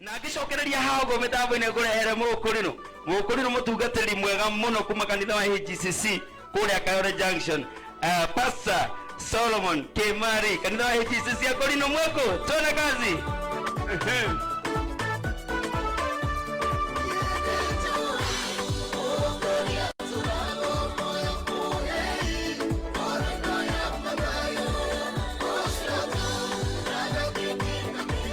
na ngĩcokereria hago mĩtambo-inĩ ngũrehere mũkũrĩno mũkũrĩno mũtungatĩri mwega mũno kuma kanitha wa hgcc kũrĩa kayore junction uh, pastor solomon kemari kanitha wa hgcc akũrĩno mweko tuone kazi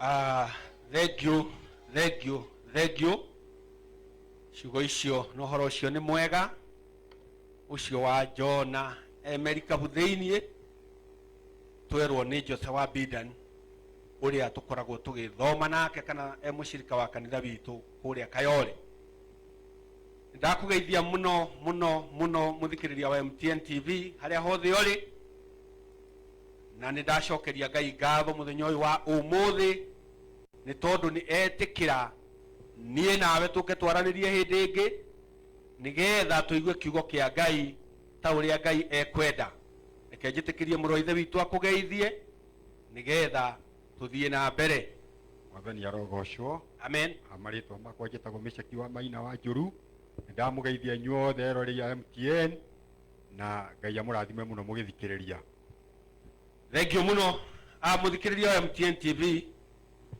Ah, thengio thengio thengio ciugo icio na ũhoro ũcio nĩ mwega ũcio wa jona emerikabu thĩiniĩ twerwo nĩ jose wa bidan ũrĩa tũkoragwo tũgĩthoma nake kana e mũcirika wa kanitha witũ kũrĩa kayole ndakũgeithia mũno mũno mũno mũthikĩrĩria wa mtn tv harĩa hothe ũrĩ na nĩ ndacokeria ngai ngatho mũthenya ũyũ wa ũmũthĩ nĩ tondũ nĩ etĩkĩra niĩ nawe tũke twaranĩrie hĩndĩ ĩngĩ nĩgetha tũigue kiugo kĩa ngai ta ũrĩa ngai ekwenda reke njĩtĩkĩrie mũrũ wa ithe witũ akũgeithie nĩgetha tũthiĩ na mbere mwathani arogocwo amen Ah, marĩtwa makwa njĩtagwo mĩcaki wa maina wa njũru nĩndamũgeithia inyuothe eroreri a mtn na ngai amũrathime mũno mũgĩthikĩrĩria thengio mũno a mũthikĩrĩria wa mtn tv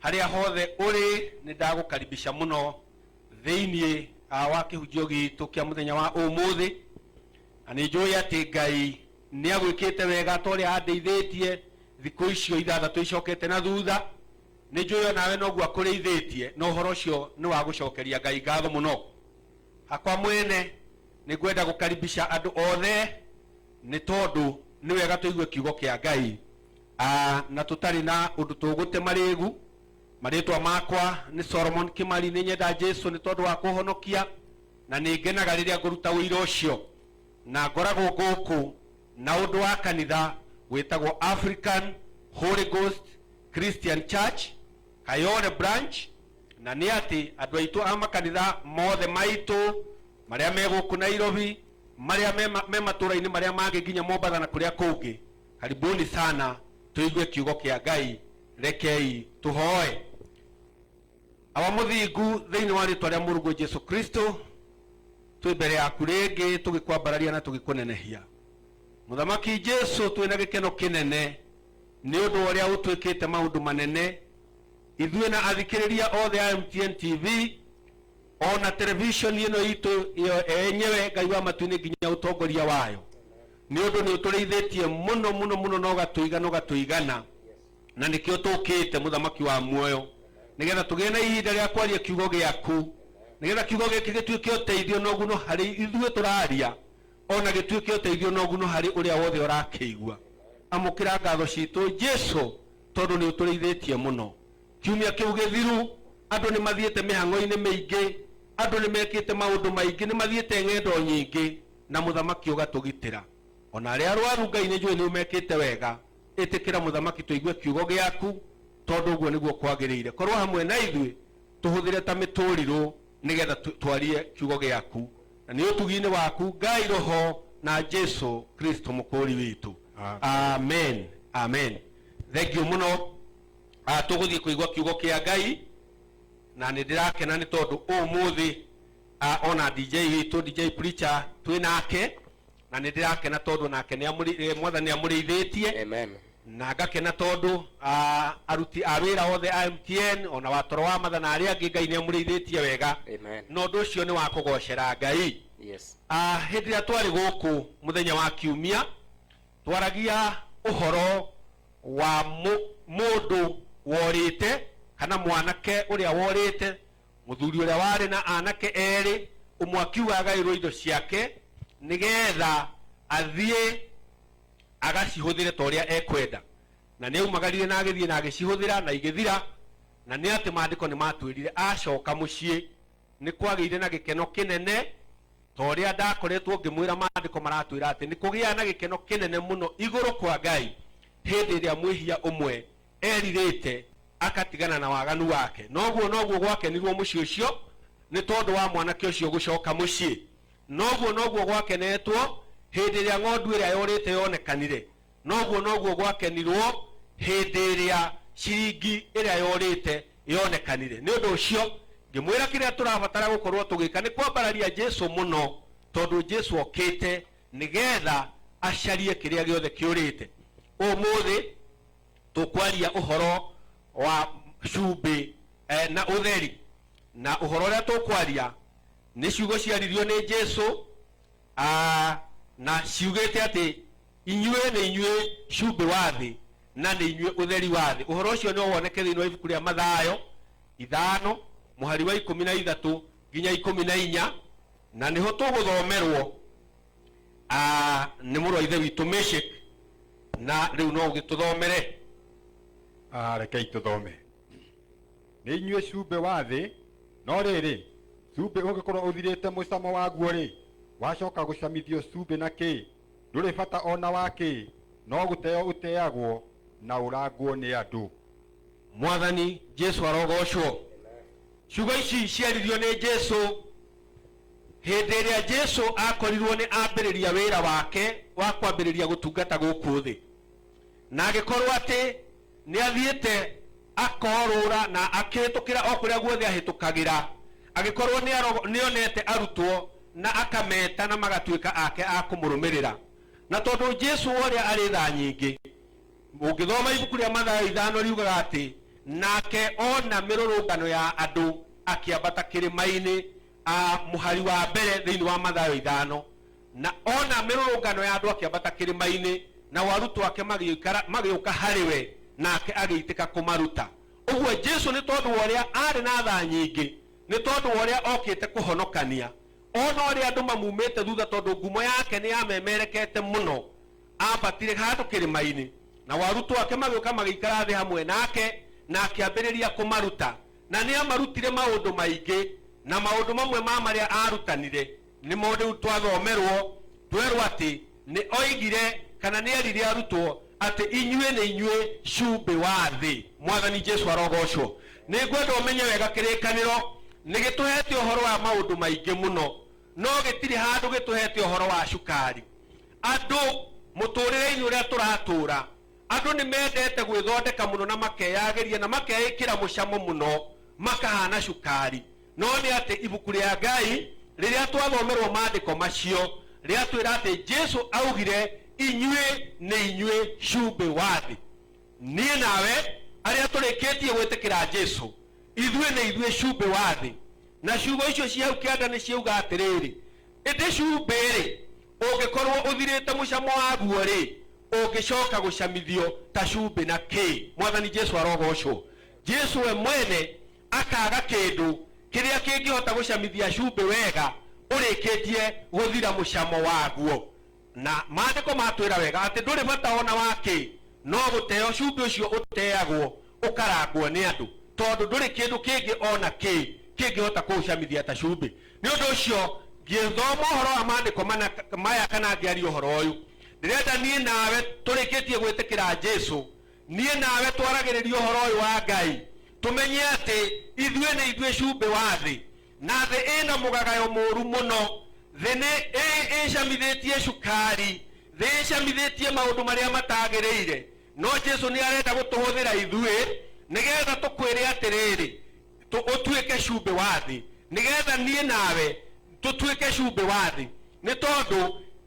harĩa hothe ũrĩ nĩ ndagũkaribisha mũno thĩinĩ ah, wa kĩhunjio gitũ kĩa mũthenya wa ũmũthĩ na nĩ njũĩ atĩ ngai Nĩ agwĩkĩte wega ta ũrĩa andeithĩtie thikũ icio ithathatũ icokete na thutha. Nĩ njũĩ o nawe noguo akũrĩithĩtie, na ũhoro ũcio nĩ wa gũcokeria Ngai ngatho mũno. Hakwa mwene, nĩ ngwenda gũkaribisha andũ othe, nĩ tondũ nĩ wega tũigue Kiugo kĩa Ngai, na tũtarĩ na ũndũ tũgũte marĩĩgu. Marĩĩtwa makwa nĩ Solomon Kĩmari. Nĩ nyenda Jesu nĩ tondũ wa kũhonokia, na nĩ ngenaga rĩrĩa ngũruta ũira ũcio. Na ngoragwo gũkũ na ũndũ wa kanitha wĩtagwo African Holy Ghost Christian Church, Kayole Branch, na nĩ atĩ andũ aitũ a makanitha mothe maitũ marĩa me gũkũ Nairobi, marĩa me ma- me matũũra-inĩ marĩa mangĩ nginya Mombatha na kũrĩa kũngĩ, karibuni sana tũigue kiugo kĩa Ngai, rekei tũhoe. aba mũthingu thĩinĩ wa rĩtwa rĩa mũrungu jesu kristo twĩ mbere yaku rĩngĩ tũgĩkwambararia na tũgĩkũnenehia mũthamaki jesu twĩ na gĩkeno kĩnene nĩ ũndũ wa ũrĩa ũtwĩkĩte maũndũ manene ithuĩ na athikĩrĩria othe a mtn tv ona televishoni ĩno itũ ĩyo enyewe ngai wa matu-inĩ nginya ũtongoria wayo nĩ ũndũ nĩ ũtũrĩithĩtie mũno mũno mũno na ũgatũiga na ũgatũigana na nĩkĩo tũkĩte mũthamaki wa muoyo nĩgetha tũgĩe na ihinda rĩa kwaria kiugo gĩaku nĩgetha kiugo gĩkĩ gĩtuĩke ũteithio na ũguno harĩ ithuĩ tũraria ona gĩtuĩke ũteithio na ũguno harĩ ũrĩa wothe ũrakĩigua amũkĩra ngatho citũ jesu tondũ nĩ ũtũrĩithĩtie mũno kiumia kĩu gĩthiru andũ nĩ mathiĩte mĩhang'o-inĩ mĩingĩ andũ nĩ mekĩte maũndũ maingĩ nĩ mathiĩte ng'endo nyingĩ na mũthamaki ũgatũgitĩra ona arĩa arwaru ngai nĩ njũĩ nĩ ũmekĩte wega Ĩtĩkĩra mũthamaki tũigue kiugo gĩaku, tondũ ũguo nĩguo kwagĩrĩire. Korwo hamwe na ithuĩ, tũhũthĩre ta mĩtũrirũ nĩgetha tũ- twarie kiugo gĩaku. Na nĩ ũtugi-inĩ waku, Ngai Roho na Jesu Kristo mũkũũri witũ. Amen. Amen. Amen. Thengiũ mũno. Ah, Tũgũthiĩ kũigua kiugo kĩa Ngai na nĩ ndĩrakena nĩ tondũ ũmũthĩ ah, ona DJ witũ DJ Preacher twĩ nake na nĩ ndĩrakena tondũ nake nĩ amũrĩ- eh, mwathani nĩ amũrĩithĩtie Amen. na ngakena tondũ ah, aruti a wĩra othe a mtn ona watoro wa matha na arĩa angĩ ngai nĩ amũrĩithĩtie wega Amen. na ũndũ ũcio nĩ wa kũgocera ngai Yes. Ah, hĩndĩ ĩrĩa twarĩ gũkũ mũthenya wa kiumia twaragia ũhoro wa mũ- mũndũ worĩte kana mwanake ũrĩa worĩte Mũthuri ũrĩa warĩ na anake erĩ, ũmwe akiuga agaĩrwo indo ciake nĩ getha athiĩ agacihũthĩre ta ũrĩa ekwenda. Na nĩ aumagarire na agĩthiĩ na agĩcihũthĩra na igĩthira, na nĩ atĩ maandĩko nĩ matwĩrire acoka mũciĩ nĩ kwagĩire na gĩkeno kĩnene, ta ũrĩa ndakoretwo ngĩmwĩra maandĩko maratwĩra atĩ nĩ kũgĩaga na gĩkeno kĩnene mũno igũrũ kwa Ngai hĩndĩ ĩrĩa mwĩhia ũmwe erirĩte agatigana na waganu wake na ũguo noguo gwakenirwo mũciĩ ũcio nĩ tondũ wa mwanake ũcio gũcoka mũciĩ noguo noguo gwakenetwo hĩndĩ ĩrĩa ng'ondu ĩrĩa yorĩte yonekanire noguo noguo gwakenirwo hĩndĩ ĩrĩa ciringi ĩrĩa yorĩte yonekanire nĩ ũndũ ũcio ngĩmwĩra kĩrĩa tũrabatara gũkorwo tũgĩka nĩ kwambararia jesu mũno tondũ jesu okĩte nĩgetha acarie kĩrĩa gĩothe kĩũrĩte ũmũthĩ tũkwaria ũhoro wa cumbĩ eh, na ũtheri na ũhoro ũrĩa tũkwaria nĩ ciugo ciaririo nĩ jesu ah, na ciugĩte atĩ inyuĩ nĩ inyuĩ cumbĩ wa thĩ na nĩ inyuĩ ũtheri wa thĩ ũhoro ũcio nĩ woneke thĩinĩ wa ibuku rĩa mathayo ithano mũhari wa ikũmi na ithatũ nginya ikũmi na inya na nĩho tũgũthomerwo Ah, nĩ mũrũ wa ithe witũ mĩshik na rĩu no ũgĩtũthomere Ah, rekei tũthome nĩ inyuĩ cumbĩ wa thĩ no rĩrĩ cumbĩ ũngĩkorwo ũthirĩte mũcamo waguo-rĩ wacoka gũcamithio cumbĩ na kĩ ndũrĩ bata ona wa kĩ no gũteo ũteagwo na ũrangwo nĩ andũ mwathani jesu arogocwo ciugo ici ciaririo nĩ jesu Hĩndĩ ĩrĩa Jesu aakorirũo nĩ ambĩrĩria wĩra wake wa kwambĩrĩria gũtungata gũkũ thĩ, na agĩkorũo atĩ nĩ athiĩte akorũũra na akĩhĩtũkĩra o kũrĩa guothe ahĩtũkagĩra, agĩkorũo nĩ aro- nĩ onete arutwo na akameta na magatuĩka ake a kũmũrũmĩrĩra. Na tondũ Jesu ũrĩa arĩ tha nyingĩ, ũngĩthoma ibuku rĩa mathayo ithano riugaga atĩ nake ona mĩrũrũngano ya andũ akĩambata kĩrĩma-inĩ ah, mũhari wa mbere thĩinĩ wa mathayo ithano na ona mĩrũrũngano ya andũ akĩambata kĩrĩma-inĩ nao arutwo ake magĩikara- magĩũka harĩ we nake agĩitĩka kũmaruta ũguo jesu nĩ tondũ wa ũrĩa arĩ na tha nyingĩ nĩ tondũ wa ũrĩa okĩte kũhonokania ona ũrĩa andũ mamumĩte thutha tondũ ngumo yake nĩ yamemerekete mũno aambatire handũ kĩrĩma-inĩ, nao arutwo ake magĩũka magĩikara thĩ hamwe nake, na akĩambĩrĩria kũmaruta. Na nĩ aamarutire maũndũ maingĩ, na maũndũ mamwe ma marĩa aarutanire nĩmo rĩu twathomerũo, twerũo atĩ, Nĩ oigire, kana nĩ eerire arutwo, atĩ, 'Inyuĩ nĩ inyuĩ cumbĩ wa thĩ. Mwathani Jesu arogoocwo! Nĩ ngwenda ũmenye wega kĩrĩkanĩro nĩ gĩtũheete ũhoro wa maũndũ maingĩ mũno. no gĩtirĩ handũ gĩtũhete ũhoro wa cukari. Andũ, mũtũũrĩre-inĩ ũrĩa tũratũũra, andũ nĩ mendete gwĩthondeka mũno na makeyagĩria na makeĩkĩra mũcamo mũno makahaana cukari. No nĩ atĩ Ibuku rĩa Ngai, rĩrĩa twathomerũo maandĩko macio, rĩatwĩra atĩ Jesu aaugire, Inyuĩ nĩ inyuĩ cumbĩ wa thĩ. Niĩ nawe arĩa tũrĩkĩtie gwĩtĩkĩra Jesu, ithuĩ nĩ ithuĩ cumbĩ wa thĩ. Na ciugo icio ciĩ hau kĩanda nĩ ciauga atĩrĩrĩ, Ĩndĩ cumbĩ-rĩ, ũngĩkorũo ũthirĩte mũcamo waguo-rĩ, ũngĩcoka gũcamithio ta cumbĩ na kĩ? Mwathani Jesu arogoocwo! Jesu we mwene akaaga kĩndũ kĩrĩa kĩngĩhota gũcamithia cumbĩ wega ũrĩkĩtie gũthira mũcamo waguo. Na Maandĩko matwĩra wega atĩ ndũrĩ bata o na wa kĩ, no gũteo cumbĩ ũcio ũteagwo ũkarangwo nĩ andũ, tondũ ndũrĩ kĩndũ kĩngĩ o na kĩ kĩngĩhota kũũcamithia ta cumbĩ. Nĩ ũndũ ũcio, ngĩthoma ũhoro wa Maandĩko mana maya kana ngĩaria ũhoro ũyũ, ndĩrenda niĩ nawe tũrĩkĩtie gwĩtĩkĩra Jesu, niĩ nawe twaragĩrĩrie ũhoro ũyũ wa Ngai, tũmenye atĩ ithuĩ nĩ ithuĩ cumbĩ wa thĩ. Na thĩ ĩ na mũgagayo mũũru mũno. Thĩ nĩ ĩ ĩcamithĩtie cukari. Thĩ ĩcamithĩtie maũndũ marĩa matagĩrĩire. No Jesu nĩ arenda gũtũhũthĩra ithuĩ nĩ getha tũkwĩre atĩrĩrĩ, tũ, ũtuĩke cumbĩ wa thĩ. Nĩ getha niĩ nawe tũtuĩke cumbĩ wa thĩ. Nĩ tondũ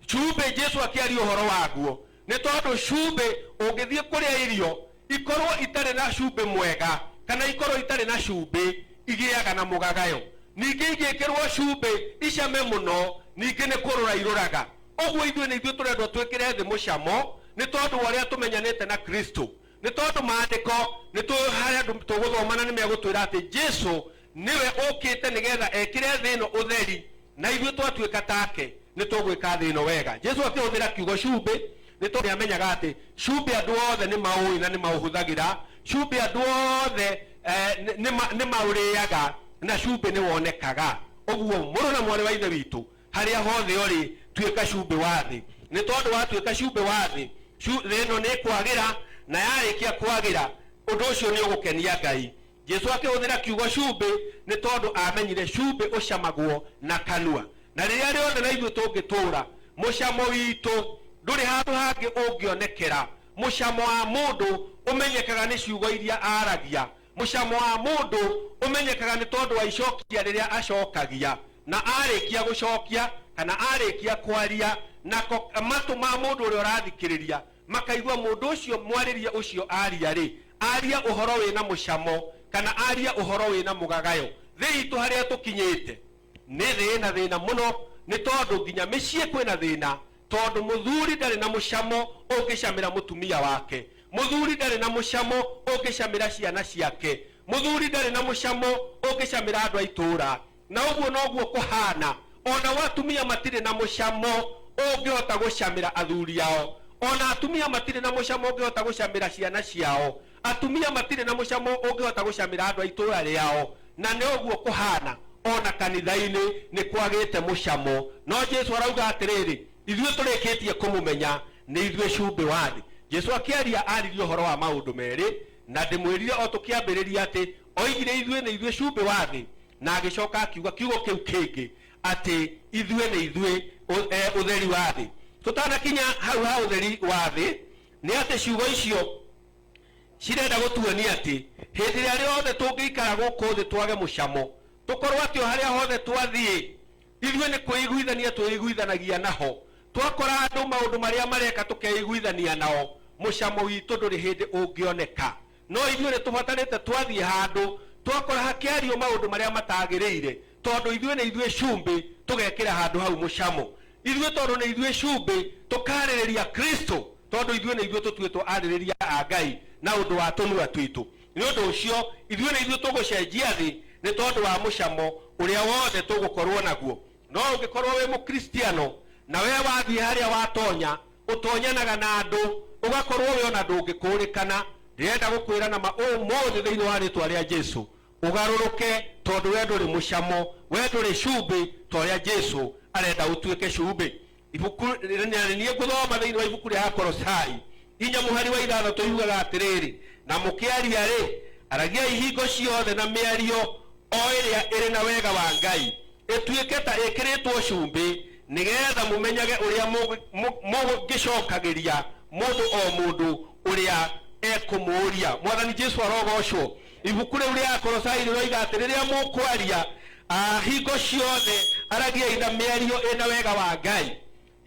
cumbĩ Jesu akĩaria ũhoro waguo, Nĩ tondũ cumbĩ ũngĩthiĩ kũrĩa irio ikorũo itarĩ na cumbĩ mwega kana ikorũo itarĩ na cumbĩ, igĩaga na mũgagayo. Ningĩ ingĩkĩrũo cumbĩ icame mũno, ningĩ nĩ kũrũra irũraga. Ũguo ithuĩ nĩ ithuĩ tũrendwo twĩkĩre thĩ mũcamo nĩ tondũ wa ũrĩa tũmenyanĩte na Kristo. Nĩ tondũ maandĩko nĩ tũĩ harĩa andũ tũgũthoma na nĩ megũtwĩra atĩ Jesu nĩwe ũkĩte nĩgetha ekĩre thĩ ĩno ũtheri na ithuĩ twatuĩka take nĩ tũgwĩka thĩ ĩno wega. Jesu akĩhũthĩra kiugo cumbĩ nĩ tondũ nĩ amenyaga atĩ cumbĩ andũ othe nĩ maũĩ na nĩ maũhũthagĩra. Cumbĩ andũ othe eh, nĩ maũrĩaga na cumbĩ nĩ wonekaga. Ũguo mũrũ na mwarĩ wa Ithe witũ harĩa hothe ũrĩ tuĩka cumbĩ wa thĩ nĩ tondũ watuĩka cumbĩ wa thĩ cu- thĩ ĩno nĩ kwagĩra na yarĩkia kwagĩra ũndũ ũcio nĩ ũgũkenia ngai jesu akĩhũthĩra kiugo cumbĩ nĩ tondũ amenyire cumbĩ ũcamagwo na kanua na rĩrĩa rĩothe na ithuĩ tũngĩtũũra mũcamo witũ ndũrĩ handũ hangĩ ũngĩonekera mũcamo wa mũndũ ũmenyekaga nĩ ciugo iria aragia Mũcamo wa mũndũ ũmenyekaga nĩ tondũ wa icokia rĩrĩa acokagia na arĩkia gũcokia kana arĩkia kwaria, nako matũ ma mũndũ ũrĩa ũrathikĩrĩria makaigua mũndũ ũcio mwarĩrie ũcio aria-rĩ, aria ũhoro wĩ na mũcamo kana aria ũhoro wĩ na mũgagayo. Thĩ itũ harĩa tũkinyĩte nĩ thĩ ĩna thĩna mũno nĩ tondũ nginya mĩciĩ kwĩna thĩna Tondũ mũthuri ndarĩ na mũcamo ũngĩcamĩra mũtumia wake, mũthuri ndarĩ na mũcamo ũngĩcamĩra ciana ciake, mũthuri ndarĩ na mũcamo ũngĩcamĩra andũ a itũũra. Na ũguo noguo kũhaana, o nao atumia matirĩ na mũcamo ũngĩhota gũcamĩra athuri ao, o na atumia matirĩ na mũcamo ũngĩhota gũcamĩra ciana ciao, Atumia matirĩ na mũcamo ũngĩhota gũcamĩra andũ a itũũra rĩao, na nĩ ũguo kũhaana o na kanitha-inĩ, nĩ kwagĩte mũcamo. No Jesu arauga atĩrĩrĩ, Ithuĩ tũrĩkĩtie kũmũmenya, nĩ ithuĩ cumbĩ wa thĩ. Jesu akĩaria aaririe ũhoro wa maũndũ merĩ, na ndĩmwĩrire o tũkĩambĩrĩria atĩ oigire ithuĩ nĩ ithuĩ cumbĩ wa thĩ, na agĩcoka akiuga kiugo kĩu kĩngĩ atĩ ithuĩ nĩ ithuĩ ũtheri wa thĩ. Tũtanakinya hau ha ũtheri wa thĩ, Nĩ atĩ ciugo icio cirenda gũtuonia atĩ hĩndĩ ĩrĩa rĩothe tũngĩikara gũkũ thĩ twage mũcamo, tũkorwo atĩ o harĩa hothe twathiĩ, ithuĩ nĩ kwĩiguithania twĩiguithanagia naho. Twakora andũ maũndũ marĩa mareka tũkeiguithania nao, mũcamo witũ ndũrĩ hĩndĩ ũngĩoneka. No ithuĩ nĩ tũbatarĩte twathiĩ handũ twakora hakĩario maũndũ marĩa matagĩrĩire, Tondũ ithuĩ nĩ ithuĩ cumbĩ, tũgekĩra handũ hau mũcamo. Ithuĩ tondũ nĩ ithuĩ cumbĩ, tũkaarĩrĩria Kristo, tondũ ithuĩ nĩ ithuĩ tũtuĩtwo arĩrĩria a Ngai na ũndũ wa tũnua twitũ. Nĩ ũndũ ũcio, ithuĩ nĩ ithuĩ tũgũcenjia thĩ nĩ tondũ wa mũcamo ũrĩa wothe tũgũkorũo naguo. No ũngĩkorũo wĩ Mũkristiano na wee wathiĩ harĩa watonya, ũtonyanaga na andũ, ũgakorũo wĩ o na ndũngĩkũũrĩkana, ndĩrenda gũkwĩra na ma ũmũthĩ thĩinĩ wa rĩĩtwa rĩa Jesu, ũgarũrũke tondũ we ndũrĩ mũcamo we ndũrĩ cumbĩ ta ũrĩa jesu arenda ũtuĩke cumbĩ ibuku na nĩ niĩ ngũthoma thĩinĩ wa ibuku rĩa akorosai inya mũhari wa ithathatũ yugaga atĩrĩrĩ na mũkĩaria-rĩ aragiai hingo ciothe na mĩario o ĩrĩa ĩrĩ na wega wa ngai ĩtuĩke ta ĩkĩrĩtwo cumbĩ nĩgetha mũmenyage ũrĩa mũgĩ- mũ- mũngĩcokagĩria mũndũ o mũndũ ũrĩa ekũmũũria mwathani jesu arogocwo Ibuku rĩu rĩa Akolosai rĩroiga atĩ rĩrĩa mũkwaria, ah, hingo ciothe aragiai na mĩario ĩna wega wa Ngai.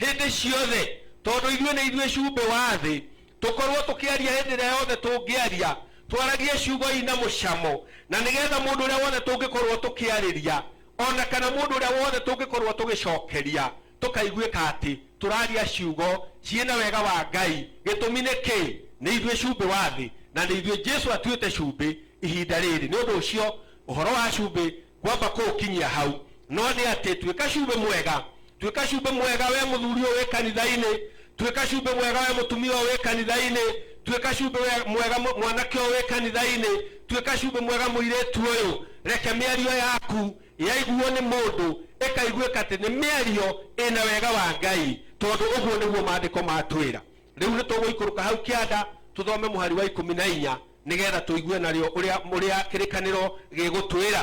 Hĩndĩ ciothe, tondũ ithuĩ nĩ ithuĩ cumbĩ wa thĩ, tũkorwo tũkĩaria hĩndĩ ĩrĩa yothe tũngĩaria, twaragie ciugo ina mũcamo, na nĩgetha mũndũ ũrĩa wothe tũngĩkorwo tũkĩarĩria, ona kana mũndũ ũrĩa wothe tũngĩkorwo tũgĩcokeria, tũkaiguĩka atĩ tũraria ciugo ciĩ na wega wa Ngai. Gĩtũmi nĩ kĩĩ? Nĩ ithuĩ cumbĩ wa thĩ, na nĩ ithuĩ Jesu atuĩte cumbĩ ihinda rĩrĩ. Nĩ ũndũ ũcio, ũhoro wa cumbĩ ngwamba kũũkinyia hau. No nĩ atĩ, tuĩka cumbĩ mwega, tuĩka cumbĩ mwega wee mũthuri ũyũ wĩ kanitha-inĩ, tuĩka cumbĩ mwega wee mũtumia ũyũ wĩ kanitha-inĩ, tuĩka cumbĩ we- mwega mw- mwanake ũyũ wĩ kanitha-inĩ, tuĩka cumbĩ mwega mũirĩtu ũyũ. Reke mĩario yaku Yaiguuo nĩ mũndũ, ĩkaiguĩka atĩ nĩ mĩario ĩ na wega wa Ngai, tondũ ũguo nĩguo Maandĩko matwĩra. Rĩu nĩ tũgũikũrũka hau kĩanda tũthome mũhari wa ikũmi na inya nĩ getha tũigue narĩo ũrĩa ũrĩa kĩrĩkanĩro gĩgũtwĩra.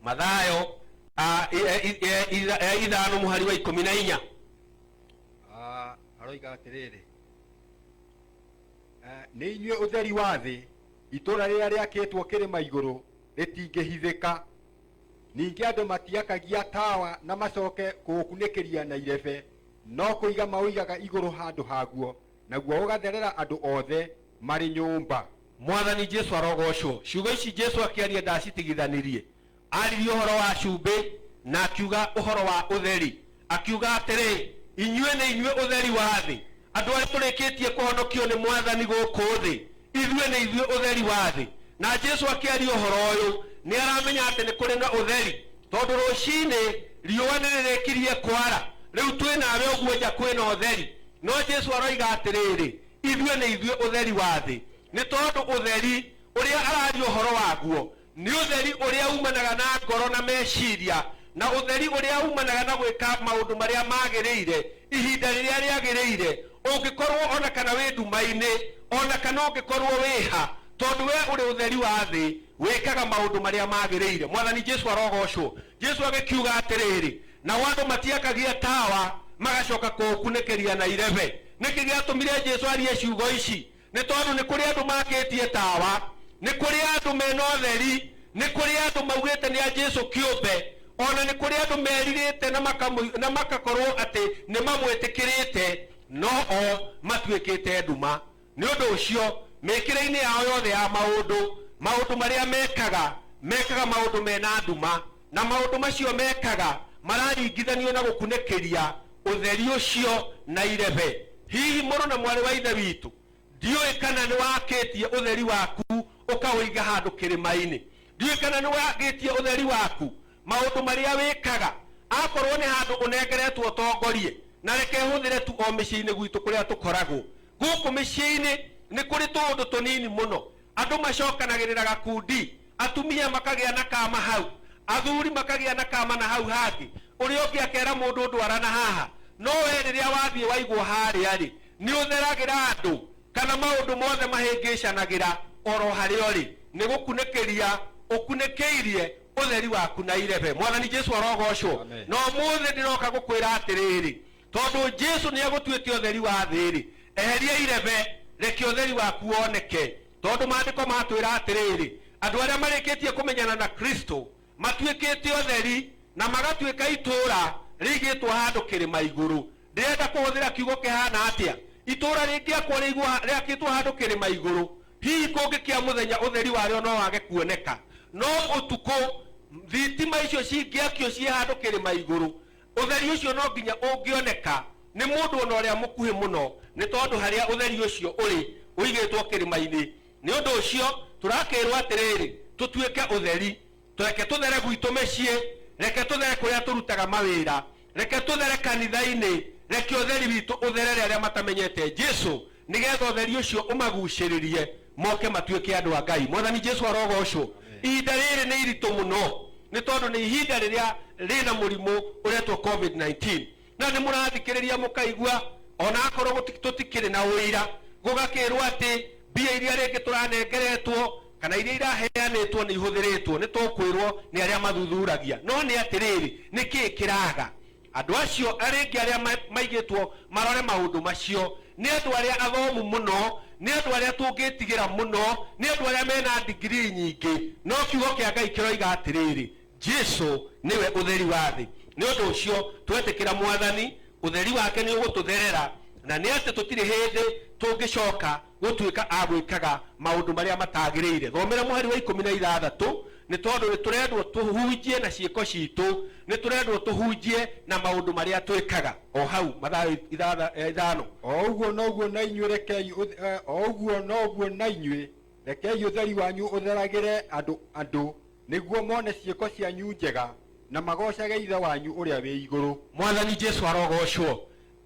Mathayo ah, i- eh, i- eh, itha- eh, ithano mũhari wa ikũmi na inya. Ah, aroiga atĩrĩrĩ "Eh, nĩ inyuĩ ũtheri wa thĩ Itũũra rĩrĩa rĩakĩtwo kĩrĩma igũrũ rĩtingĩhithĩka. Ningĩ andũ matiakagia tawa na macoke kũũkunĩkĩria na irebe, no kũiga maũigaga igũrũ handũ haguo, naguo ũgatherera andũ othe marĩ nyũmba. Mwathani Jesu arogoocwo. Ciugo ici Jesu akĩaria ndaacitigithanirie. Aaririe ũhoro wa cumbĩ, na akiuga ũhoro wa ũtheri, akiuga atĩrĩ, Inyuĩ nĩ inyuĩ ũtheri wa thĩ. Andũ arĩa tũrĩkĩtie kũhonokio nĩ Mwathani gũkũ thĩ, ithuĩ nĩ ithuĩ ũtheri wa thĩ. Na Jesu akĩaria ũhoro ũyũ, nĩ aramenya atĩ nĩ kũrĩ na ũtheri, tondũ rũcinĩ riũa nĩ rĩrĩkirie kwara. Rĩu twĩ nawe ũguo nja kwĩ na ũtheri. No Jesu aroiga atĩrĩrĩ, Ithuĩ nĩ ithuĩ ũtheri wa thĩ. Nĩ tondũ ũtheri ũrĩa araria ũhoro waguo Nĩ ũtheri ũrĩa umanaga na ngoro na meciria, na ũtheri ũrĩa umanaga na gwĩka maũndũ marĩa magĩrĩire ihinda rĩrĩa rĩagĩrĩire, ũngĩkorũo o na kana wĩ nduma-inĩ, o na kana ũngĩkorũo wĩ ha, tondũ wee ũrĩ ũtheri wa thĩ, wĩkaga maũndũ marĩa magĩrĩire. Mwathani Jesu arogoocwo! Jesu agĩkiuga atĩrĩrĩ, Nao andũ matiakagia tawa magacoka kũũkunĩkĩria na irebe. Nĩkĩ gĩatũmire Jesu arie ciugo ici? nĩ tondũ nĩ kũrĩ andũ makĩtie tawa, nĩ kũrĩ andũ mena ũtheri, nĩ kũrĩ andũ maugĩte nĩ a Jesu kĩũmbe, o na nĩ kũrĩ andũ merirĩte na makamũi- na makakorwo atĩ nĩ mamwĩtĩkĩrĩte, no o matuĩkĩte nduma. Nĩ ũndũ ũcio, mĩkĩre-inĩ yao yothe ya maũndũ, maũndũ marĩa mekaga, mekaga maũndũ mena nduma. Na maũndũ macio mekaga mararingithanio na gũkunĩkĩria ũtheri ũcio na irebe. Hihi mũrũ na mwarĩ wa Ithe witũ, ndiũĩ kana nĩ wakĩtie ũtheri waku ũkaũiga handũ kĩrĩma-inĩ? Ndiũĩ kana nĩ wakĩtie ũtheri waku, maũndũ marĩa wĩkaga, akorũo nĩ handũ ũnengeretwo ũtongorie? Na reke hũthĩre tu o mĩciĩ-inĩ gwitũ kũrĩa tũkoragwo. Gũkũ mĩciĩ-inĩ nĩ kũrĩ tũũndũ tũnini mũno Andũ macokanagĩrĩra gakundi, atumia makagĩa na kama hau, athuri makagĩa na kama na hau hangĩ, ũrĩa ũngĩ akera mũndũ ũndũ ara na haha. No wee rĩrĩa wathiĩ waigwo harĩa-rĩ, nĩ ũtheragĩra andũ, kana maũndũ mothe mahĩngĩcanagĩra o ro harĩa ũrĩ, nĩ gũkunĩkĩria ũkunĩkĩirie ũtheri waku na irebe. Mwathani Jesu arogocwo. Amen. Na ũmũthĩ ndĩroka gũkwĩra atĩrĩrĩ, Tondũ Jesu nĩ egũtuĩte ũtheri wa thĩ-rĩ, eheria irebe, reke ũtheri waku woneke. Tondũ Maandĩko matwĩra atĩrĩrĩ, andũ arĩa marĩkĩtie kũmenyana na Kristo matuĩkĩte ũtheri na magatuĩka itũũra rĩigĩtwo handũ kĩrĩma igũrũ. Ndĩrenda kũhũthĩra kiugo kĩhaana atĩa? Itũũra rĩngĩakwo rĩigwo rĩakĩtwo handũ kĩrĩma igũrũ, hihi kũngĩkĩa mũthenya ũtheri warĩo no wage kuoneka? No ũtukũ thitima icio cingĩakio ciĩ handũ kĩrĩma igũrũ, Ũtheri ũcio no nginya ũngĩoneka nĩ mũndũ o na ũrĩa mũkuhĩ mũno, nĩ tondũ harĩa ũtheri ũcio ũrĩ ũigĩtwo kĩrĩma-inĩ. Nĩ ũndũ ũcio, tũrakĩĩrũo atĩrĩrĩ, Tũtuĩke ũtheri. Reke tũthere gwitũ mĩciĩ. Reke tũthere kũrĩa tũrutaga mawĩra. Reke tũthere kanitha-inĩ. Reke ũtheri witũ ũtherere arĩa matamenyete Jesu. nĩ getha ũtheri ũcio ũmagucĩrĩrie moke matuĩke andũ a ngai mwathani jesu arogocwo ihinda rĩrĩ nĩ iritũ mũno nĩ tondũ nĩ ihinda rĩrĩa rĩna mũrimũ ũretwo covid-19 na nĩ mũrathikĩrĩria mũkaigua ona akorwo gũti- tũtikĩrĩ na ũira gũgakĩrwo atĩ mbia iria rĩngĩ tũranengeretwo kana iria iraheanĩtwo nĩ ihũthĩrĩtwo nĩ tũkwĩrwo nĩ arĩa mathuthuragia no nĩ atĩrĩrĩ nĩ kĩĩ kĩraga Andũ acio arĩngĩ arĩa maigĩtwo marore maũndũ macio nĩ andũ arĩa athomu mũno, nĩ andũ arĩa tũngĩtigĩra mũno, nĩ andũ arĩa mena ndigirii nyingĩ. No Kiugo kĩa Ngai kĩroiga atĩrĩrĩ, Jesu nĩwe ũtheri wa thĩ. Nĩ ũndũ ũcio, twetĩkĩra Mwathani, ũtheri wake nĩ ũgũtũtherera, na nĩ atĩ tũtirĩ hĩndĩ tũngĩcoka gũtuĩka a gwĩkaga maũndũ marĩa matagĩrĩire. Thomera mũhari wa ikũmi na ithathatũ, Nĩ tondũ nĩ tũrendwo tũhunjie na ciĩko citũ, nĩ tũrendwo tũhunjie na maũndũ marĩa twĩkaga. O hau, Mathayo ithatha- eh, ithano. O ũguo noguo na inyuĩ rekei ũth- eh, o ũguo noguo na inyuĩ rekei ũtheri wanyu ũtheragĩre andũ andũ nĩguo mone ciĩko cianyu njega na magoocage ithe wanyu ũrĩa wĩ igũrũ. Mwathani Jesu arogoocwo.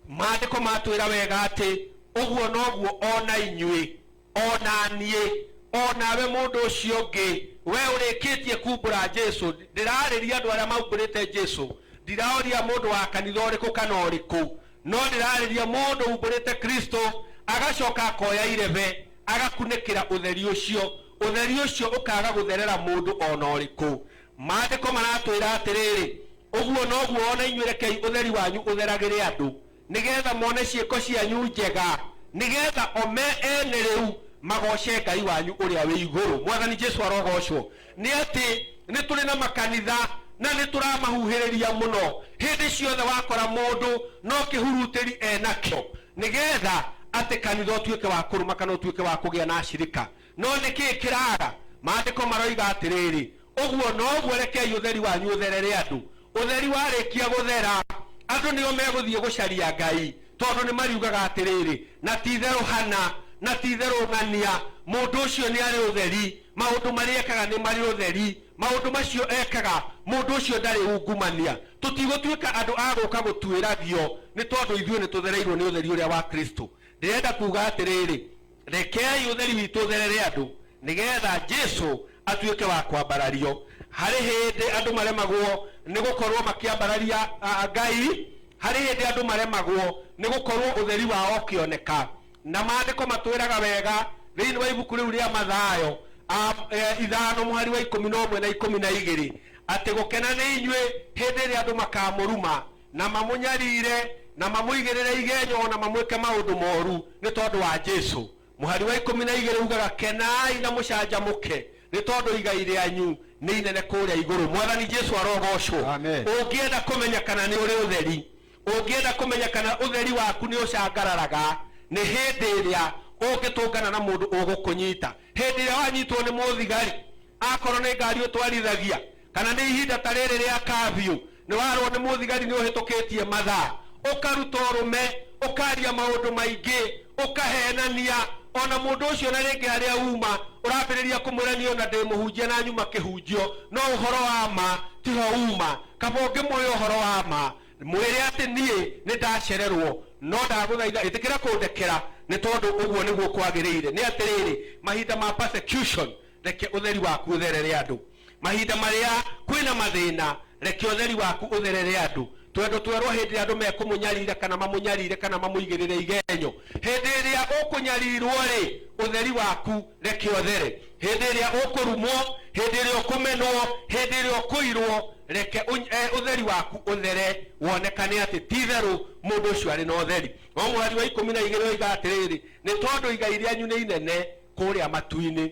Maandĩko matwĩra wega atĩ ũguo noguo o na inyuĩ, o na niĩ, o nawe mũndũ ũcio ũngĩ, wee ũrĩkĩtie kumbũra Jesu, ndĩrarĩria andũ arĩa maumbũrĩte Jesu, ndiraũria mũndũ wa kanitha ũrĩkũ kana ũrĩkũ, no ndĩrarĩria mũndũ umbũrĩte Kristo, agacoka akoya irebe, agakunĩkĩra ũtheri ũcio, ũtheri ũcio ũkaga gũtherera mũndũ o na ũrĩkũ. Maandĩko maratwĩra atĩrĩrĩ, Ũguo noguo o na inyuĩ rekei ũtheri wanyu ũtheragĩre andũ, nĩ geetha mone ciĩko cianyu njega, nĩ geetha o me ene rĩu magooce Ngai wanyu ũrĩa wĩ igũrũ. Mwathani Jesu arogoocwo! Nĩ atĩ nĩ tũrĩ na makanitha na nĩ tũramahuhĩrĩria mũno. Hĩndĩ ciothe wakora mũndũ no kĩhurutĩri e nakĩo, nĩ geetha atĩ kanitha ũtuĩke wa kũrũma kana ũtuĩke wa kũgĩa na acirika. No nĩ kĩĩ kĩraaga? Maandĩko maroiga atĩrĩrĩ, Ũguo noguo, rekei ũtheri wanyu ũtherere andũ. Ũtheri warĩkia gũthera, andũ nĩo megũthiĩ gũcaria Ngai, tondũ nĩ mariugaga atĩrĩrĩ, Na ti-itherũ Hana, na ti-itherũ Ng'ania, mũndũ ũcio nĩ arĩ ũtheri, maũndũ marĩa ekaga nĩ marĩ ũtheri, maũndũ macio ekaga, mũndũ ũcio ndarĩ ungumania. Tũtigũtuĩka andũ a gũka gũtuĩragio, nĩ tondũ ithuĩ nĩ tũthereirũo nĩ ũtheri ũrĩa wa Kristo. Ndĩrenda kuuga atĩrĩrĩ, Rekei ũtheri witũ ũtherere andũ, nĩ getha Jesu atuĩke wa kwambarario. Harĩ hĩndĩ andũ maremagwo nĩ gũkorwo makĩambararia Ngai, harĩ hĩndĩ andũ maremagwo nĩ gũkorwo ũtheri wao ũkĩoneka. Na maandĩko matwĩraga wega thĩinĩ wa ibuku rĩu rĩa Mathayo ithano mũhari wa ikũmi na ũmwe na ikũmi na igĩrĩ atĩ gũkena nĩ inyuĩ hĩndĩ ĩrĩa andũ makamũruma na mamũnyarire na mamũigĩrĩre igenyo na mamwĩke maũndũ moru nĩ tondũ wa jesu mũhari wa ikũmi na igĩrĩ ugaga kenai na mũcanjamũke nĩ tondũ igai rĩanyu nĩ inene kũrĩa igũrũ mwathani jesu arogocwo Amen. ũngĩenda kũmenya kana nĩ ũrĩ ũtheri ũngĩenda kũmenya kana ũtheri waku nĩ ũcangararaga nĩ hĩndĩ ĩrĩa ũngĩtũngana na mũndũ ũgũkũnyita hĩndĩ ĩrĩa wanyitwo nĩ mũthigari akorwo nĩ ngari ũtwarithagia Kana nĩ ihinda ta rĩrĩ rĩa kabiũ, nĩ warũo nĩ mũthigari nĩ ũhĩtũkĩtie mathaa, ũkaruta ũrũme, ũkaria maũndũ maingĩ, ũkahenania, o na mũndũ ũcio na rĩngĩ harĩa uma ũrambĩrĩria kũmwĩra niĩ o na ndĩ mũhunjia na nyuma kĩhunjio, no ũhoro wa ma ti ho uma. Kaba ũngĩmũĩ ũhoro wa ma, mwĩre atĩ niĩ nĩ ndacererũo, no ndagũthaitha ĩtĩkĩra kũndekera nĩ tondũ ũguo nĩguo kwagĩrĩire. Nĩ atĩrĩrĩ, mahinda ma persecution, reke ũtheri waku ũtherere andũ. mahinda marĩa kwĩna mathĩna reke ũtheri waku ũtherere andũ twendo twerwo hĩndĩ ĩrĩa andũ mekũmũnyarira kana mamũnyarire kana mamũigĩrĩre igenyo hĩndĩ ĩrĩa ũkũnyarirwo rĩ ũtheri waku reke ũthere hĩndĩ ĩrĩa ũkũrumwo hĩndĩ ĩrĩa ũkũmenwo hĩndĩ ĩrĩa ũkũirwo reke ũny- eh, ũtheri waku ũthere wonekane atĩ ti itherũ mũndũ ũcio arĩ na ũtheri no mũhari wa ikũmi na igĩrĩ oiga atĩrĩrĩ nĩ tondũ igai rĩanyu nĩ inene kũrĩa matu-inĩ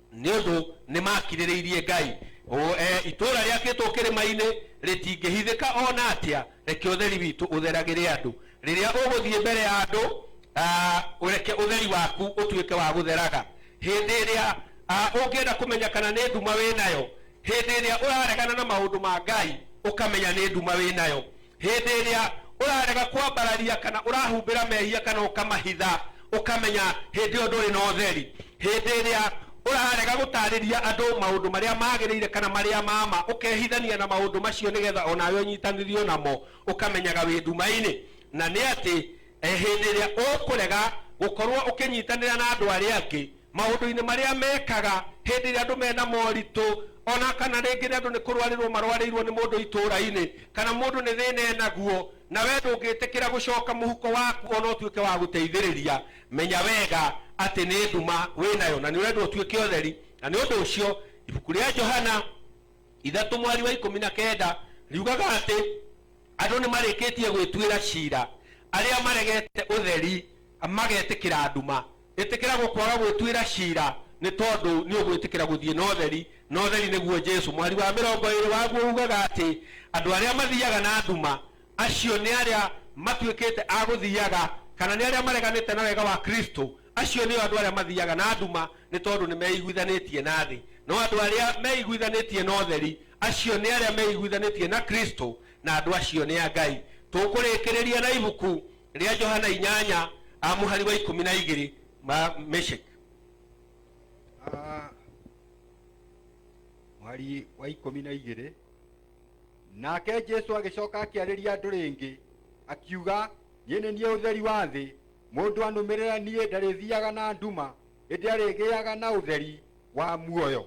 nĩ ũndũ nĩ maakirĩrĩirie ngai O, eh, itũũra rĩakĩtwo kĩrĩma-inĩ rĩtingĩhithĩka o na atĩa reke ũtheri witũ ũtheragĩre andũ rĩrĩa ũgũthiĩ mbere ya andũ ah, ũreke ũtheri waku ũtuĩke wa gũtheraga hĩndĩ ĩrĩa ah, ũngĩenda kũmenya kana nĩ nduma wĩ nayo hĩndĩ ĩrĩa ũraregana na maũndũ ma ngai ũkamenya nĩ nduma wĩ nayo hĩndĩ ĩrĩa ũrarega kwambararia kana ũrahumbĩra mehia kana ũkamahitha ũkamenya hĩndĩ ĩyo ndũrĩ na ũtheri hĩndĩ ĩrĩa ũrarega gũtarĩria andũ maũndũ marĩa magĩrĩire kana marĩa mama ũkehithania na maũndũ macio nĩgetha onawe ũnyitanĩrio namo ũkamenyaga wĩ nduma-inĩ na nĩ atĩ eh, hĩndĩ ĩrĩa ũkũrega gũkorwo ũkĩnyitanĩra na andũ arĩa angĩ maũndũ-inĩ marĩa mekaga hĩndĩ ĩrĩa andũ mena moritũ, ona kana rĩngĩ nĩ andũ nĩ kũrwarĩrwo marwarĩirwo nĩ mũndũ itũũra-inĩ, kana mũndũ nĩ thĩna enaguo, na we ndũngĩtĩkĩra gũcoka mũhuko waku ona ũtuĩke wa gũteithĩrĩria, menya wega atĩ nĩ nduma wĩ nayo, na nĩ ũrendwo ũtuĩke ũtheri. Na nĩ ũndũ ũcio ibuku rĩa Johana ithatũ mweri wa ikũmi na kenda riugaga atĩ andũ nĩ marĩkĩtie gwĩtuĩra cira arĩa maregete ũtheri magetĩkĩra nduma. Ĩtĩkĩra gũkwaga gwĩtuĩra ciira nĩ tondũ nĩ ũgwĩtĩkĩra gũthiĩ na ũtheri, na ũtheri nĩguo Jesu. Mũhari wa mĩrongo ĩĩrĩ waguo uugaga atĩ andũ arĩa mathiaga na nduma, acio nĩ arĩa matuĩkĩte a gũthiaga, kana nĩ arĩa mareganĩte na wega wa Kristo. Acio nĩo andũ arĩa mathiaga na nduma nĩ tondũ nĩ meiguithanĩtie na thĩ. No andũ arĩa meiguithanĩtie na ũtheri, acio nĩ arĩa meiguithanĩtie na Kristo, na andũ acio nĩ a Ngai. Tũkũrĩkĩrĩria na ibuku rĩa johana inyanya a mũhari wa ikũmi na igĩrĩ ma meshek Ah, mwari wa ikũmi na igĩrĩ nake jesu agĩcoka akĩarĩria andũ rĩngĩ akiuga niĩ nĩ niĩ ũtheri wa thĩ mũndũ anũmĩrĩra niĩ ndarĩthiaga na nduma ĩndĩ arĩgĩaga na ũtheri wa muoyo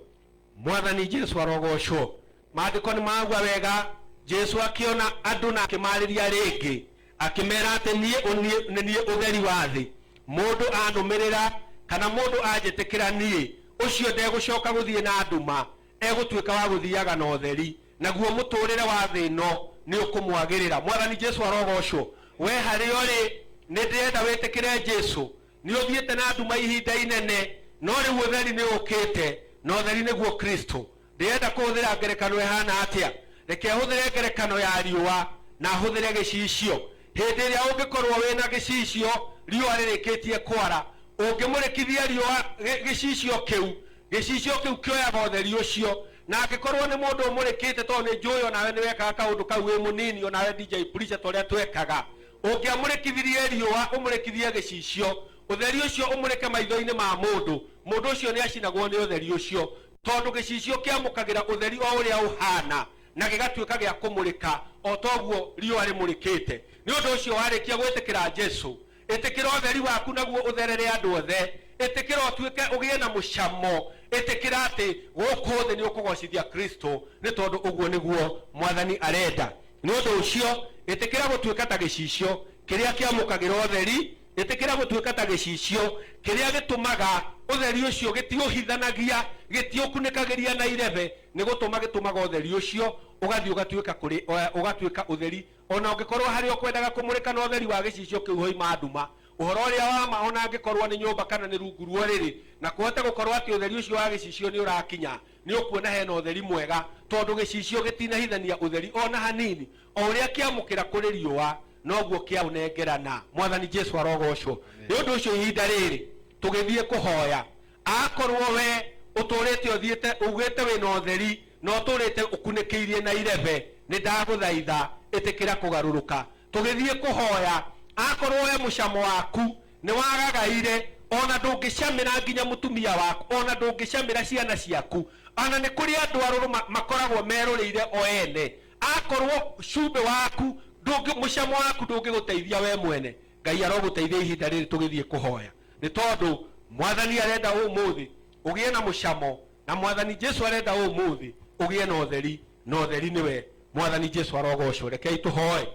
Mwathani Jesu arogoocwo. Maandĩko nĩ magua wega. Jesu akĩona andũ na akĩmaarĩria rĩngĩ, akĩmeera atĩ, Niĩ ũ- niĩ- nĩ niĩ ũtheri wa thĩ. Mũndũ anũmĩrĩra, kana mũndũ anjĩtĩkĩra niĩ, ũcio ndegũcoka gũthiĩ na nduma, egũtuĩka wa gũthiaga na ũtheri, naguo mũtũũrĩre wa thĩ ĩno nĩ ũkũmwagĩrĩra. Mwathani Jesu arogoocwo. We harĩa ũrĩ, nĩ ndĩrenda wĩtĩkĩre Jesu, Nĩ ũthiĩte na nduma ihinda inene, no rĩu ũtheri nĩ ũũkĩte, na ũtheri nĩguo Kristo. Ndĩrenda kũhũthĩra ngerekano ĩhaana atĩa? Reke hũthĩre ngerekano ya riũa, na hũthĩre gĩcicio. Hĩndĩ ĩrĩa ũngĩkorũo wĩ na gĩcicio riũa rĩrĩkĩtie kwara, ũngĩmũrĩkithia riũa gĩcicio kĩu, gĩcicio kĩu kĩoyaga ũtheri ũcio. Na angĩkorũo nĩ mũndũ ũmũrĩkĩte, tondũ nĩ njũĩ o nawe nĩ wekaga kaũndũ kau wĩ mũnini, o nawe DJ Preacher, ta ũrĩa twekaga, Ũngĩamũrĩkithirie riũa, ũmũrĩkithie gĩcicio, ũtheri ũcio ũmũrĩke maitho-inĩ ma mũndũ, mũndũ ũcio nĩacinagwo nĩ ũtheri ũcio, tondũ gĩcicio kĩamũkagĩra ũtheri o ũrĩa ũhaana, na gĩgatuĩka gĩa kũmũrĩka, o ta ũguo riũa rĩmũrĩkĩte. Nĩ ũndũ ũcio, warĩkia gwĩtĩkĩra Jesu, ĩtĩkĩra ũtheri waku naguo ũtherere andũ othe, ĩtĩkĩra ũtuĩke, ũgĩe na mũcamo, ĩtĩkĩra atĩ gũkũ thĩ nĩũkũgoocithia Kristo, nĩ tondũ ũguo nĩguo Mwathani arenda. Nĩ ũndũ ũcio, ĩtĩkĩra gũtuĩka ta gĩcicio kĩrĩa kĩamũkagĩra ũtheri, ĩtĩkĩra gũtuĩka ta gĩcicio kĩrĩa gĩtũmaga ũtheri ũcio gĩtiũhithanagia, gĩtiũkunĩkagĩria na irebe, nĩ gũtũma gĩtũmaga ũtheri ũcio ũgathiĩ ũgatuĩka kũrĩ, ũgatuĩka ũtheri, o na ũngĩkorũo harĩa ũkwendaga kũmũrĩka na ũtheri wa gĩcicio kĩu hoima nduma. Ũhoro ũrĩa wa ma, o na angĩkorũo nĩ nyũmba kana nĩ rungu rwa ũrĩrĩ, na kũhote gũkorũo atĩ ũtheri ũcio wa gĩcicio nĩ ũrakinya Nĩ ũkuona hena ũtheri mwega, tondũ gĩcicio gĩtinahithania ũtheri o na hanini, o ũrĩa kĩamũkĩra kũrĩ riũa, noguo kĩaũnengerana. Mwathani Jesu arogocwo. Nĩ ũndũ ũcio ihinda rĩrĩ tũgĩthiĩ kũhoya, akorwo we ũtũrĩte ũthiĩte ugĩte wĩna ũtheri na ũtũrĩte ũkunĩkĩirie na irebe, nĩ ndagũthaitha ĩtĩkĩra kũgarũrũka Tũgĩthiĩ kũhoya akorwo we mũcamo waku nĩwagagaire ona ndũngĩcamĩra nginya mũtumia waku ona ndũngĩcamĩra ciana ciaku ona nĩ kũrĩ andũ arũrũ ma makoragwo merũrĩire o ene akorwo cumbĩ waku ndũngĩ mũcamo waku ndũngĩgũteithia we mwene Ngai arogũteithia ihinda rĩrĩ tũgĩthiĩ kũhoya nĩ tondũ mwathani arenda ũmũthĩ ũgĩe na mũcamo na mwathani Jesu arenda ũmũthĩ ũgĩe na ũtheri na ũtheri nĩwe mwathani jesu arogocwo rekei tũhoe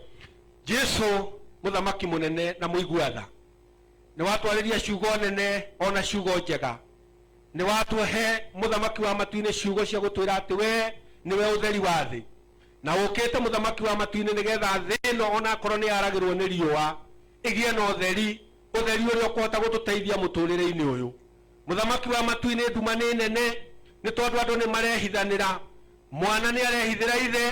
jesu mũthamaki mũnene na mũigua tha nĩ watwarĩria ciugo nene ona ciugo njega nĩ watũhe mũthamaki wa matu-inĩ ciugo cia gũtwĩra atĩ we nĩwe ũtheri wa thĩ na ũkĩte mũthamaki wa matu-inĩ nĩgetha thĩ ĩno onakorwo nĩ yaragĩrwo nĩ riũa ĩgĩe na ũtheri ũtheri ũrĩa ũkũhota gũtũteithia mũtũrĩre-inĩ ũyũ Mũthamaki wa matu-inĩ nduma nĩ nene, nĩ tondũ andũ nĩ marehithanĩra. Mwana nĩ arehithĩra ithe,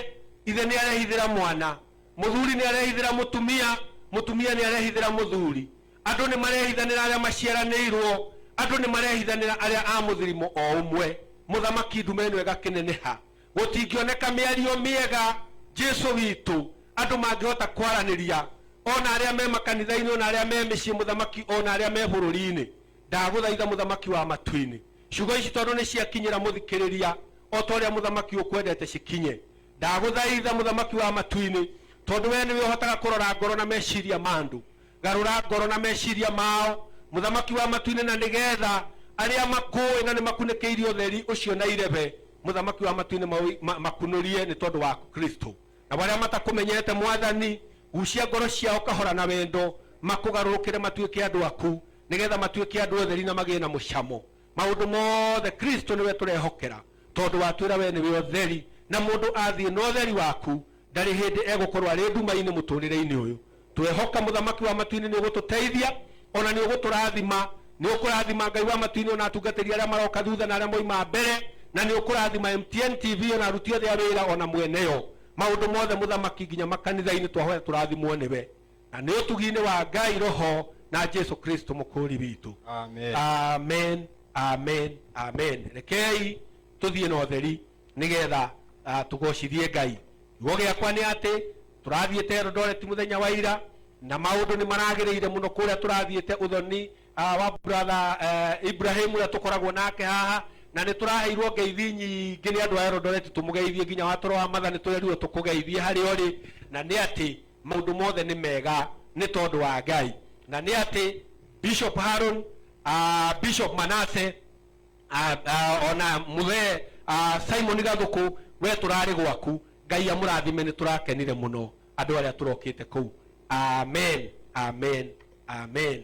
ithe nĩ arehithĩra mwana. Mũthuri nĩ arehithĩra mũtumia, mũtumia nĩ arehithĩra mũthuri. Andũ nĩ marehithanĩra arĩa maciaranĩirwo, andũ nĩ marehithanĩra arĩa a mũthirimo o ũmwe. Mũthamaki nduma ĩno ĩgakĩneneha. Gũtingĩoneka mĩario mĩega, Jesu witũ, andũ mangĩhota kwaranĩria, o na arĩa me makanitha-inĩ, o na arĩa me mĩciĩ, Mũthamaki, o na arĩa me bũrũri-inĩ. Ndagũthaitha Mũthamaki wa matu-inĩ, ciugo ici tondũ nĩ ciakinyĩra mũthikĩrĩria o ta ũrĩa Mũthamaki ũkwendete cikinye. Ndagũthaitha Mũthamaki wa matu-inĩ, tondũ wee nĩwe ũhotaga kũrora ngoro na meciria ma andũ, garũra ngoro na meciria mao, Mũthamaki wa matu-inĩ, na nĩ getha arĩa makũũĩ na nĩ makunĩkĩirio ũtheri ũcio na irebe, Mũthamaki wa matu-inĩ, maũ, makunũrie nĩ tondũ wa Kristo. Nao arĩa matakũmenyete, Mwathani, gucia ngoro ciao kahora na wendo, makũgarũrũkĩre matuĩke andũ aku. nĩ getha matuĩke andũ otheri na magĩe na mũcamo maũndũ mothe kristo nĩwe tũrehokera tondũ watwĩra we nĩwe otheri na mũndũ athiĩ na otheri waku ndarĩ hĩndĩ egũkorwo arĩ nduma-inĩ mũtũrĩre-inĩ ũyũ twehoka mũthamaki wa matu-inĩ nĩ ũgũtũteithia ona nĩ ũgũtũrathima nĩ ũkũrathima ngai wa matu-inĩ ona atungatĩri arĩa maroka thutha na arĩa moima mbere na nĩ ũkũrathima mtn tv ona aruti othe a wĩra ona mweneyo maũndũ mothe mũthamaki nginya makanitha-inĩ twahoya tũrathimwo nĩwe na nĩ ũtugi-inĩ wa ngai roho na jesu kristo mũkũũri witũ Amen. amen amen amen rekei tũthiĩ na ũtheri nĩgetha uh, tũgocithie ngai kiugo gĩakwa nĩ atĩ tũrathiĩte eldoret mũthenya wa ira na maũndũ nĩ maragĩrĩire mũno kũrĩa tũrathiĩte ũthoni uh, wa brother uh, ibrahim ũrĩa tũkoragwo nake haha na nĩ tũraheirwo ngeithi nyingĩ nĩ andũ a eldoret tũmũgeithie nginya watoro wa matha nĩ tũrerirwo tũkũgeithie harĩa ũrĩ na nĩ atĩ maũndũ mothe nĩ mega nĩ tondũ wa ngai na nĩ atĩ bishop haron uh, bishop manase uh, uh, ona mũthee uh, simon gathũkũ we tũrarĩ gwaku ngai amũrathime nĩ tũrakenire mũno andũ arĩa tũrokĩte kũu amen amen amen